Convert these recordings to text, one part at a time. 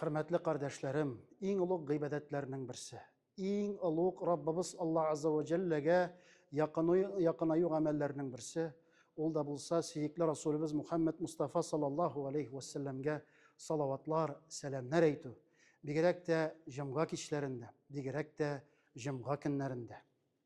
Хөрмәтле кардәшләрем, иң олуг гыйбадәтләрнең берсе, иң олуг Раббыбыз Аллаһ Азза ва Җәлләгә якынаю гамәлләрнең берсе, ул да булса сөекле Расулыбыз Мухаммад Мустафа саллаллаһу алейһи ва сәлләмгә салаватлар, сәламнәр әйтү, бигрәк тә җомга кичләрендә, бигрәк тә җомга көннәрендә.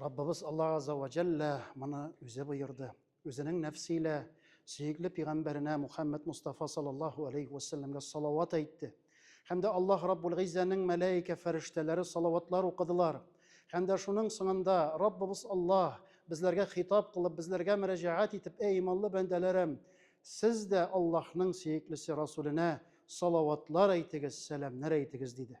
Раббыбыз Аллаһ Газза вә Җәллә моны үзе боерды. Үзенең нәфсе илә сөекле пигамбәренә Мухәммәд Мустафа саллаллаһу алейһи вә сәлләмгә салават әйтте. Һәм дә Аллаһ Раббул Гыйззәнең мәләикә фәрештәләре салаватлар укыдылар. Һәм дә шуның соңында, Раббыбыз Аллаһ, безләргә хитаб кылып, безләргә мөрәҗәгать итеп, Әй иманлы бәндәләрем! Сез дә Аллаһның сөеклесе Расүленә салаватлар әйтегез, сәламнәр әйтегез, диде.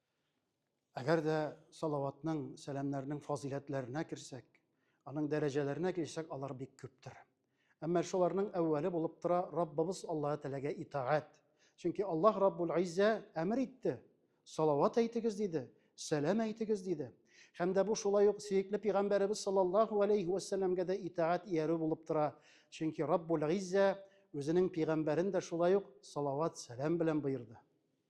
Әгәр дә салаватның, сәламнәрнең фазыйләтләренә керсәк, аның дәрәҗәләренә килсәк, алар бик күптер. Әмма шуларның әүвәле булып тора Раббыбыз Аллаһ Тәгаләгә итагать. Чөнки Аллаһ Раббул Иззә әмер итте, салават әйтегез диде, сәлам әйтегез диде. Һәм дә бу шулай ук сөекле пигамбәребез саллаллаһу алейһи вә сәлләмгә дә итагать иярү булып тора. Чөнки Раббул Иззә үзенең пигамбәрен дә шулай ук салават, сәлам белән боерды.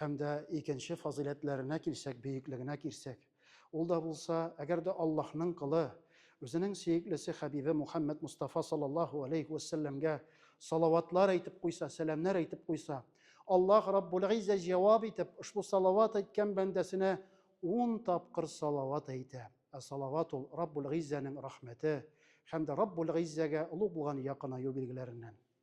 Һәм дә икенче фазыйләтләренә килсәк, бөеклегенә килсәк, ул да булса, әгәр дә Аллаһның Колы, Үзенең сөеклесе Хәбибе Мухәммәд Мостафа саллаллаһу галәйһи вә сәлләмгә салаватлар әйтеп куйса, сәламнәр әйтеп куйса, Аллаһ Раббул-Гыйззә җавап итеп, ошбу салават әйткән бәндәсенә ун тапкыр салават әйтә. Ә салават ул, Раббул-Гыйззәнең рәхмәте һәм дә Раббул-Гыйззәгә олуг булган якынаю билгеләреннән.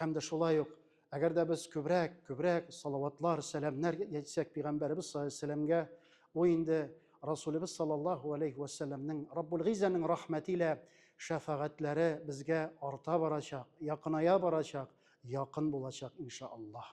Һәм дә шулай ук, әгәр дә без күбрәк, күбрәк салаватлар, сәламнәр әйтсәк пигамбәребез саллаллаһу галәйһи ва сәлләмгә, бу инде Расулебез саллаллаһу галәйһи ва сәлләмнең Раббул Гыйззәнең рәхмәте илә шәфәгатьләре безгә арта барачак, якыная барачак, якын булачак, иншаАллаһ.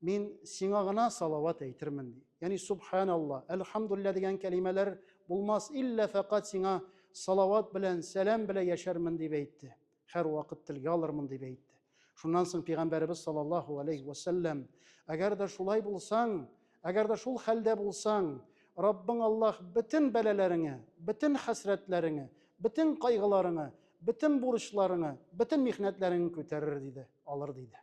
Мин сиңа гына салават әйтермен, ди. Ягъни субханалла, әлхамдулилла дигән кәлимәләр булмас, иллә фәкать сиңа салават белән, сәлам белән яшәрмен дип әйтте. Һәрвакыт телгә алырмын дип әйтте. Шуннан соң пәйгамбәребез саллаллаһу алейһи ва саллям, әгәр дә шулай булсаң, әгәр дә шул хәлдә булсаң, Раббың Аллаһ бөтен бәлаләреңә, бөтен хәсрәтләреңә, бөтен кайгыларыңа, бөтен бурычларыңа, бөтен михнәтләреңне күтәрер диде, алыр диде.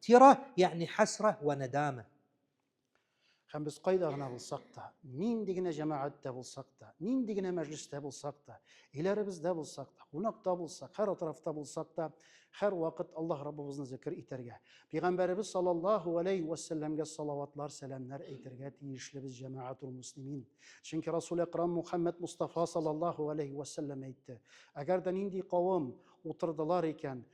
Тирә ягъни хәсрә вә нәдәмә. Һәм без кайда гына булсак та, нинди генә җәмәгатьтә булсак та, нинди генә мәҗлестә булсак та, өйләребездә булсак та, кунакта булсак, һәр атрафта булсак та, һәрвакыт Аллаһ Раббыбызны зикер итәргә, Пәйгамбәребез саллаллаһу галәйһи вә сәлләмгә салаватлар, сәламнәр әйтергә тиешлебез, җәмәгатул муслимин. Чөнки Расул Әкрам Мухәммәд Мустафа саллаллаһу галәйһи вә сәлләм әйтте, Әгәр дә нинди кавым утырдылар икән,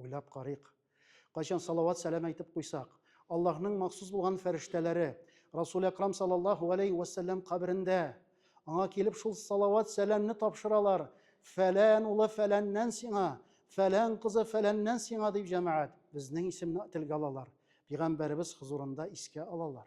Уйлап карыйк. Кайчан салават-сәлам әйтеп куйсак, Аллаһның махсус булган фәрештәләре Расул Әкрам саллаллаһу галәйһи вә сәлләм каберендә аңа килеп шул салават-сәламне тапшыралар, фәлән улы фәләннән сиңа, фәлән кызы фәләннән сиңа дип җәмәгать безнең исемне телгә алалар, пигамбәребез хозурында искә алалар.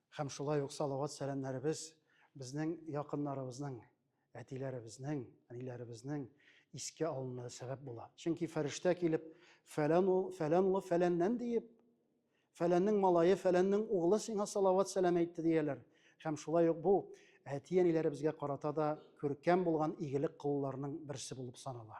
Һәм шулай ук салават сәламнәребез безнең якыннарыбызның, әтиләребезнең, әниләребезнең искә алынуына сәбәп була. Чөнки фәрештә килеп, фәлән ул, фәлән улы фәләннән диеп, фәләннең малае, фәләннең углы сиңа салават сәлам әйтте дияләр. Һәм шулай ук бу әти-әниләребезгә карата да күркәм булган игелек кылуларның берсе булып санала.